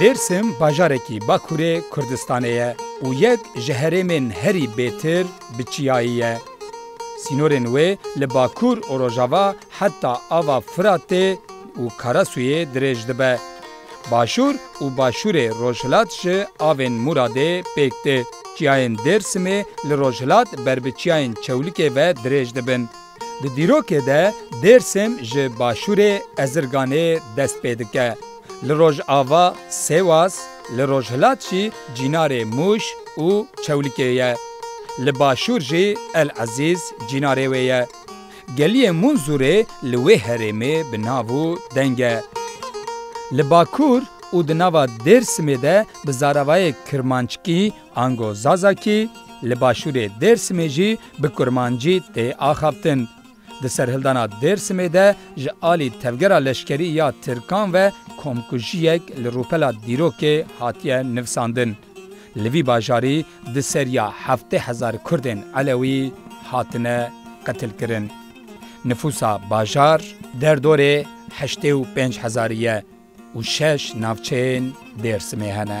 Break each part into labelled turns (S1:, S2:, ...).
S1: Dêrsim bajarekî Bakurê Kurdistanê ye û yek ji herêmên herî bêtir bi çiyayî ye. Sînorên wê li bakur û rojava heta ava Firatê û Karasûyê dirêj dibe. Başûr û Başûrê Rojhilat ji avên Mûradê pêk tê. Çiyayên Dêrsimê li rojhilat ber bi çiyayên Çewlikê ve dirêj dibin. Di dîrokê de Dêrsim ji Başûrê Ezirganê dest pê dike. Li rojava Sêwas, li rojhilat jî Cînarê Mûş û Çewlikê ye. Li başûr jî El Ezîz cînarê wê ye. Geliyê Munzurê li wê herêmê bi nav û deng e. Li Bakur û di nava Dêrsimê de bi zaravayê Kirmanckî ango Zazakî, li Başûrê Dêrsimê jî bi Kurmancî tê axaftin. Di serhildana Dêrsimê de ji alî tevgera leşkerî ya Tirkan ve komkujiyek li rûpela dîrokê hatiye nivsandin. Li vî bajarî di seriya heftê hezar Kurdên Elewî hatine qetilkirin. Nifûsa bajar derdorê heştê û pênc hezarî ye û şeş navçeyên Dêrsimê hene.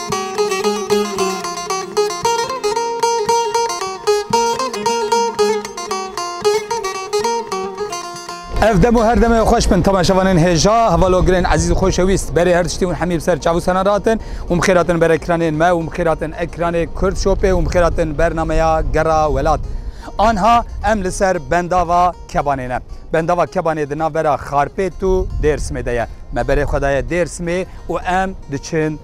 S1: Ev dem û her demê xweş bin temaşevanên hêja hevalogirên ezîz xweşewîst berê her tiştî hûn hemî bi ser çav û senan rahatin û mixêratin ber ekranên me û mixêratin ekranê Kurd Shopê û mixêratin bernameya Gera Welat. Anha em li ser bendava Kebanê ne. Bendava Kebanê di navbera Xarpêt û Dêrsimê de ye. Me berê xwe daye Dêrsimê û em diçin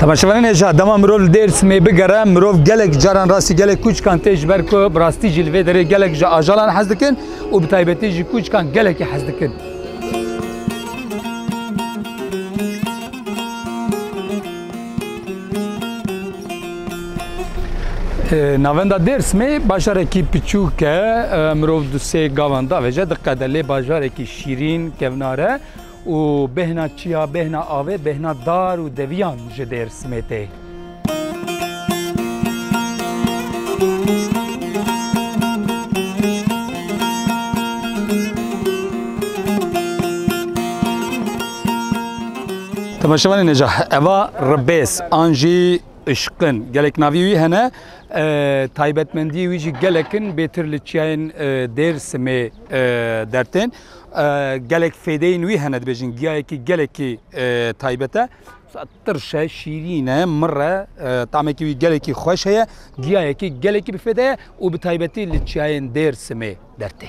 S1: Temaşevanê neja dema mirov li Dêrsimê bigere mirov gelek caran rastî gelek kûçkan tê ji ber ku bi rastî jî li vê derê gelek ji ajalan hez dikin û bi taybetî jî kûçkan gelekî hez dikin. Navenda Dêrsimê bajarekî piçûk e mirov du sê gavan davêje diqede lê bajarekî şîrîn kevnare Û bêhna çiya, bêhna avê, bêhna dar û deviyan ji Dêrsimê tê. Temeşevanê neca eva ribês an jî ışqin gelek navî wî hene taybetmendiyê wî jî gelekin bêtir li çiyayên Dêrsimê dertên. Gelek fêdeyên wî hene dibêjin giyayekî gelekî taybet e. Tirş e, şîrîn e, mir e, tamekî wî gelekî xweş heye. Giyayekî gelekî bi fêde ye û bi taybetî li çiyayên Dêrsimê dertê.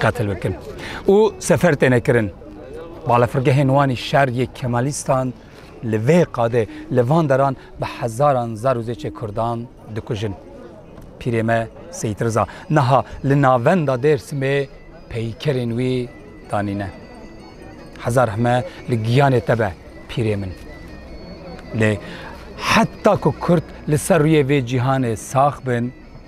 S1: Qetil bikin û sefer têne kirin. Balafirgehên wan ê şer yê Kemalîstan li vê qadê li van deran bi hezaran zar û zêçê Kurdan dikujin. Pîrê me Seyîd Riza niha li navenda Dêrsimê peykerên wî danîne. Heza rehme li giyanê te be pîrê min. Lê heta ku Kurd li ser rûyê vê cîhanê sax bin,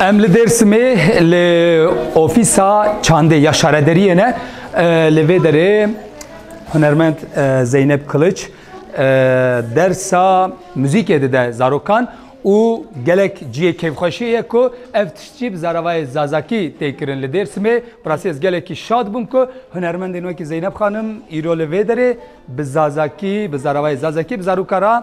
S1: Em li Dêrsimê li ofîsa çandê ya şarederiyê ne li vê derê hunermend Zeynep Kiliç dersa muzîkê dide zarokan û gelek ciyê keyfxweşiyê ye ku ev tişt jî bi zaravayê zazakî tê kirin li Dêrsimê. Bi rastî ez gelekî şad bûm ku hunermendên wekî Zeynep xanim îro li vê derê bi zazakî, bi zaravayê zazakî bi zaroka re,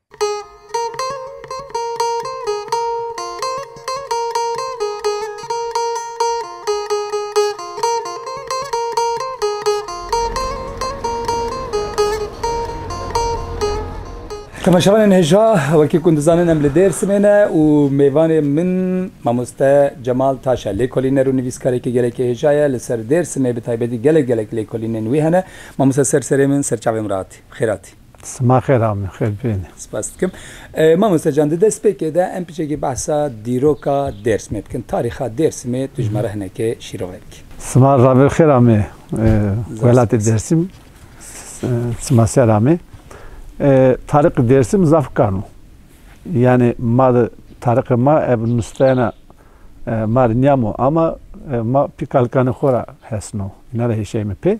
S1: Temaşevanên hêja wekî ku dizanin em li Dêrsimê ne û mêvanê min mamoste Cemal Taş e. Lêkolîner û nivîskarekî gelekî hêja ye. Li ser Dêrsimê bi taybetî gelek gelek lêkolînên wî hene. Mamoste ser serê min, serçavê min re hatî. Bi xêr hatî. Sima xêr a
S2: min xêr bibîne. Spas dikim.
S1: Mamoste can di destpêkê de em piçekî behsa dîroka Dêrsimê bikin. Tarîxa Dêrsimê tu ji me re hinekê şîrove bikî. Sima ravêr
S2: xêr a me welatê Dêrsim. Sima ser a me. Tariqê Dêrsim zaf kan o. Yanî ma di tariqê ma ev nusteyana ma re niyamo ama ma pî kalkanê xo ra hesno. Îna re hêşeyê min pê.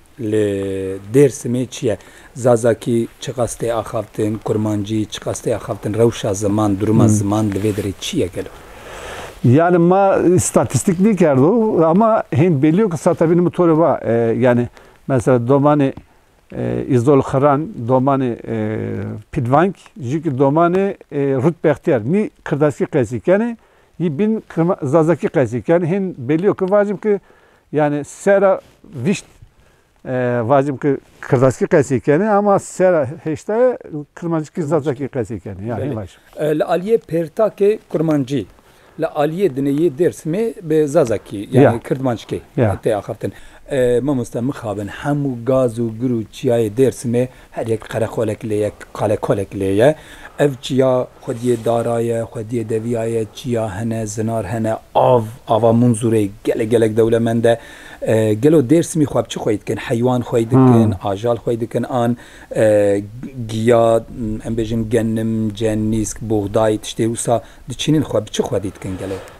S1: Li Dêrsimê çi ye? Zazakî çiqas tê axaftin, kurmancî çiqas tê axaftin, rewşa ziman, duruma ziman li vê derê çi ye gelo? Yanî
S2: ma îstatîstîk nêkerdo ama hîn bêlî yo ku sata vînî min to re va. Yanî mesela domanê Îzol Xiran, domanê Pîlvank jî ki domanê Rût Bextiyar nî kirdaskî qeysî kenê, yî bîn Zazakî qeysî kenê. Hîn bêlî yo ki vacim ki Yanî sera vîşt vacim ki kirdaskî qesî kenê ama sera hêştayê kirmancikî zazakî qesî kenê. Ya hîn baş. Li aliyê
S1: pêrtakê kurmancî li aliyê dinê yê Dêrsimê bi zazakî yanî kirdmancikê tê axaftin. Mamoste mixabin hemû gaz û gir û çiyayê Dêrsimê Her yek qereqolek lê ye, kalekolek lê ye. Ev çiya xwediyê dara ye, xwediyê deviya ye, çiya hene, zinar hene, av, ava Munzurê gelek gelek dewlemend e. Gelo Dêrsimî xwe bi çi xwey dikin? Heywan xwey dikin, ajal xwey dikin an giya, em bêjin genim, cenîsk, buxday, tiştê wisa diçînin xwe bi çi xwedî dikin gelo?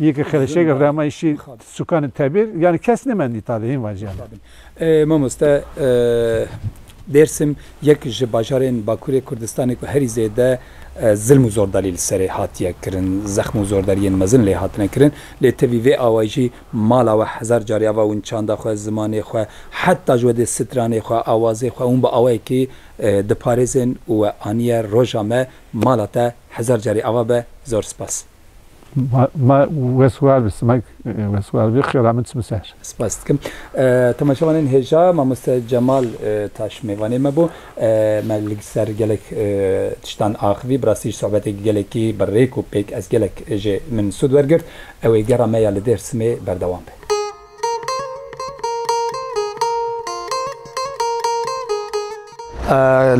S2: Yê ke xerişek rema îşî sûkanê tebîr yanî kes nimendî tade hîn vajiyan e. Mamoste
S1: Dêrsim yek ji bajarên Bakurê Kurdistanê ku herî zêde zilm û zordarî li serê hatiye kirin, zexm û zordariyên mezin lê hatine kirin lê tevî vê awayî jî mala we hezar carî ava win çanda xwe, zimanê xwe heta ji wedê stranê xwe, awazê xwe hûn bi awayekî diparêzin û we aniye roja me mala te hezar carî ava be zor spas. Ma
S2: weswar bi simek weswar bi xêra min çi bi ser. Spas dikim.
S1: Temaşevanên hêja mamoste Cemal Taş mêvanê me bû. Me li ser gelek tiştan axivî. Bi rastî ji sohbeteke gelekî bi rêk û pêk ez gelek jê min sûd wergirt. Ew ê gera me ya li Dêrsimê berdewam be.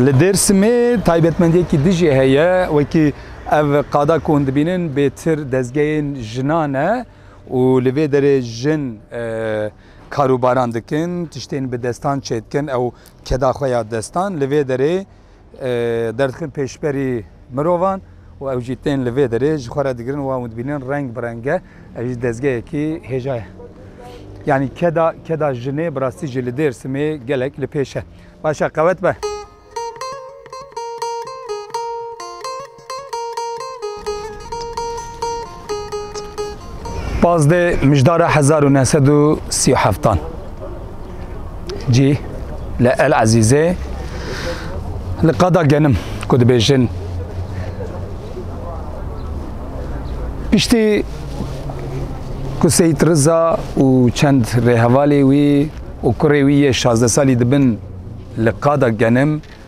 S1: Li Dêrsimê taybetmendiyekî di jî heye wekî ev qada ku hûn dibînin bêtir dezgehên jinan e û li vê derê jin e, karûbaran dikin, tiştên bi destan çêdikin ew keda xwe ya destan li vê derê derdikin pêşberî mirovan û ew jî tên li vê derê ji xwe re digirin wan û dibînin reng bi reng e, ev jî dezgehekî hêja ye. Yanî keda keda jinê bi rastî jî li Dêrsimê gelek li pêş e. Baş e qewet be. Pazdeh mijdara hezar û neh sed û sî û heftan cî li El Ezîzê li qada genim ku dibêjin piştî ku Seyîd Riza û çend rêhevalê wî û kurê wî yê şazdeh salî dibin li qada genim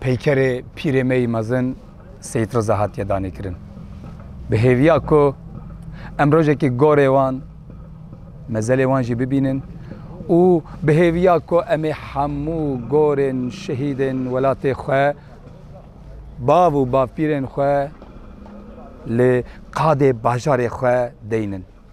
S1: peykerê pîrê me yî mezin Seyîd Riza hatiye danêkirin. Bi hêviya ku em rojekê gorê wan mezelê wan jî bibînin û bi hêviya ku em ê hemû gorên şehîdên welatê xwe bav û bavpîrên xwe li qadê bajarê xwe deynin.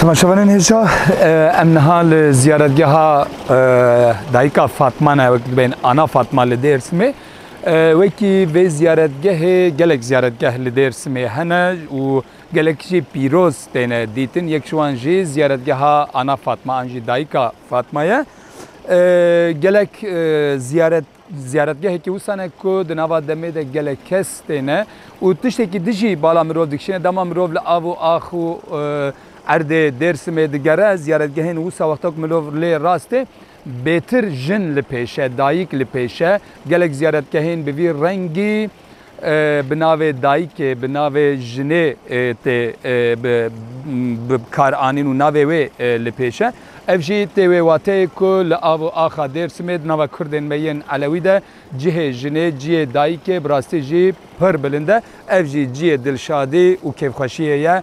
S3: Temaşevanên
S1: hêja em niha li ziyaretgeha dayika Fatma ne wek dibên Ana Fatma li Dêrsimê. Wekî vê ziyaretgehê gelek ziyaretgeh li Dêrsimê hene û gelek jî pîroz têne dîtin. Yek ji wan jî ziyaretgeha Ana Fatma an jî dayika Fatma ye. Gelek ziyaret Ziyaretgehê Kêwisa ne ku di nava demê de gelek kes têne û tiştekî dijî bala mirov dikişîne. Dema mirov li av û ax û erdê Dêrsimê digere ziyaretgehên wisa wexta ku mirov lê rast tê bêtir jin li pêş e, dayik li pêş e. Gelek ziyaretgehên bi vî rengî. bi navê dayikê, bi navê jinê tê bi kar anîn û navê wê li pêş e. Ev jî tê wê wateyê ku li av û axa Dêrsimê di nava Kurdên me yên Elewî de cihê jinê, ciyê dayikê bi rastî jî pir bilind e. Ev jî ciyê dilşadî û kêfxweşiyê ye.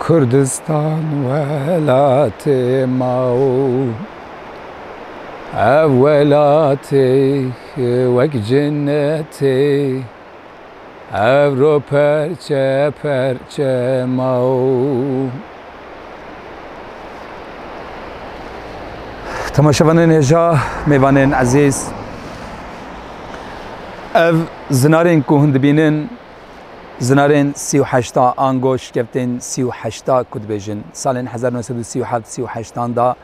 S1: Kurdistan welatê ma û ev welatê wek cenetê ev ro perçe perçe ma û Temaşevanên hêja, mêvanên ezîz, ev zinarên ku hûn dibînin, Zinarên sî û heşta ango şikevtên sî û heşta ku dibêjin salên hezar û neh sed û sî û heft sî û heştan da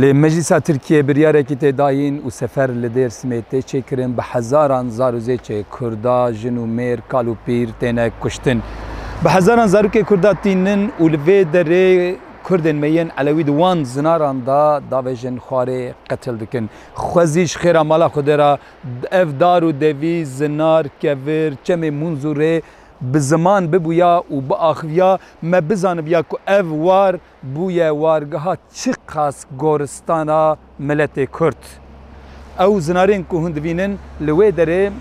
S1: li Meclîsa Tirkiyeyê biryarekî tê dayîn û sefer li Dêrsimê tê çêkirin bi hezaran zar û zêçê Kurda, jin û mêr, kal û pîr têne kuştin. Bi hezaran zarokê Kurda tînin û li vê derê Kurdên me yên Elewî di wan zinaran da davêjin xwarê qetil dikin. Xwezî ji xêra mala Xwedê re Ev dar û devî, zinar, kevir, çemê Munzûrê bi ziman bibûya û biaxiviya, me bizanibiya ku ev war bûye wargeha çiqas goristana miletê Kurd. Ew zinarên ku hûn divînin li wê derê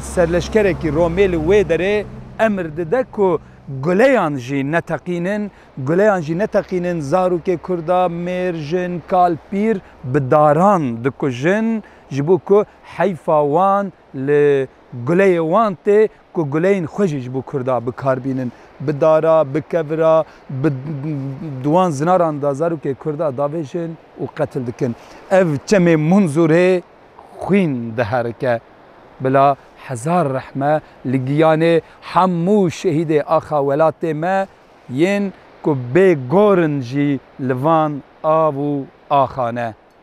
S1: serleşkerekî Romê li wê derê emir dide ku guleyan jî neteqînin, guleyan jî neteqînin, zarokê Kurda mêr, jin, kal, pîr bi daran dikujin. ji bo ku heyfa wan li guleyê wan tê ku guleyên xwe jî ji bo Kurda bikar bînin. Bi dara, bi kevira, bi di wan zinaran de zarokê Kurda davêjin û qetil dikin. Ev çemê Munzurê xwîn diherike. Bila hezar rehme li giyanê hemû şehîdê axa welatê me yên ku bê gorin jî li van av û axa ne.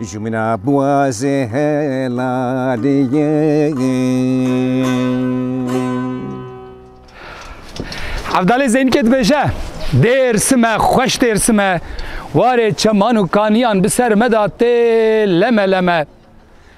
S4: Ji min a biwaze helalê ye.
S1: Evdalê Zeynike dibêje Dêrsim e, xweş Dêrsim e, warê çeman û kaniyan bi ser me de tê leme leme.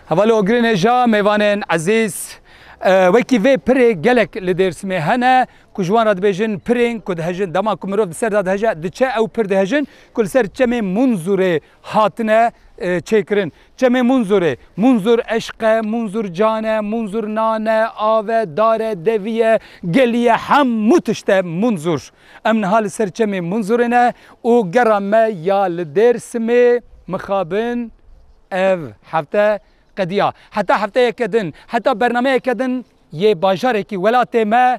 S1: Hevalê Ogirê Nêja, mêvanên ezîz, e, wekî vê pirê gelek li Dêrsimê hene ku ji wan re dibêjin pirên ku dihejin. Dema ku mirov di ser de diheje, diçe ew pir dihejin ku li ser çemê Munzurê hatine çêkirin. Çemê Munzurê, Munzur eşq e, Munzur can e, Munzur nan e, av e, dar e, devî ye, gelî ye hemû tişt e Munzur. Em niha li ser çemê Munzurê ne û gera me ya li Dêrsimê mixabin ev hefte qediya. Heta hefteyeke din, heta bernameyeke din yê bajarekî welatê me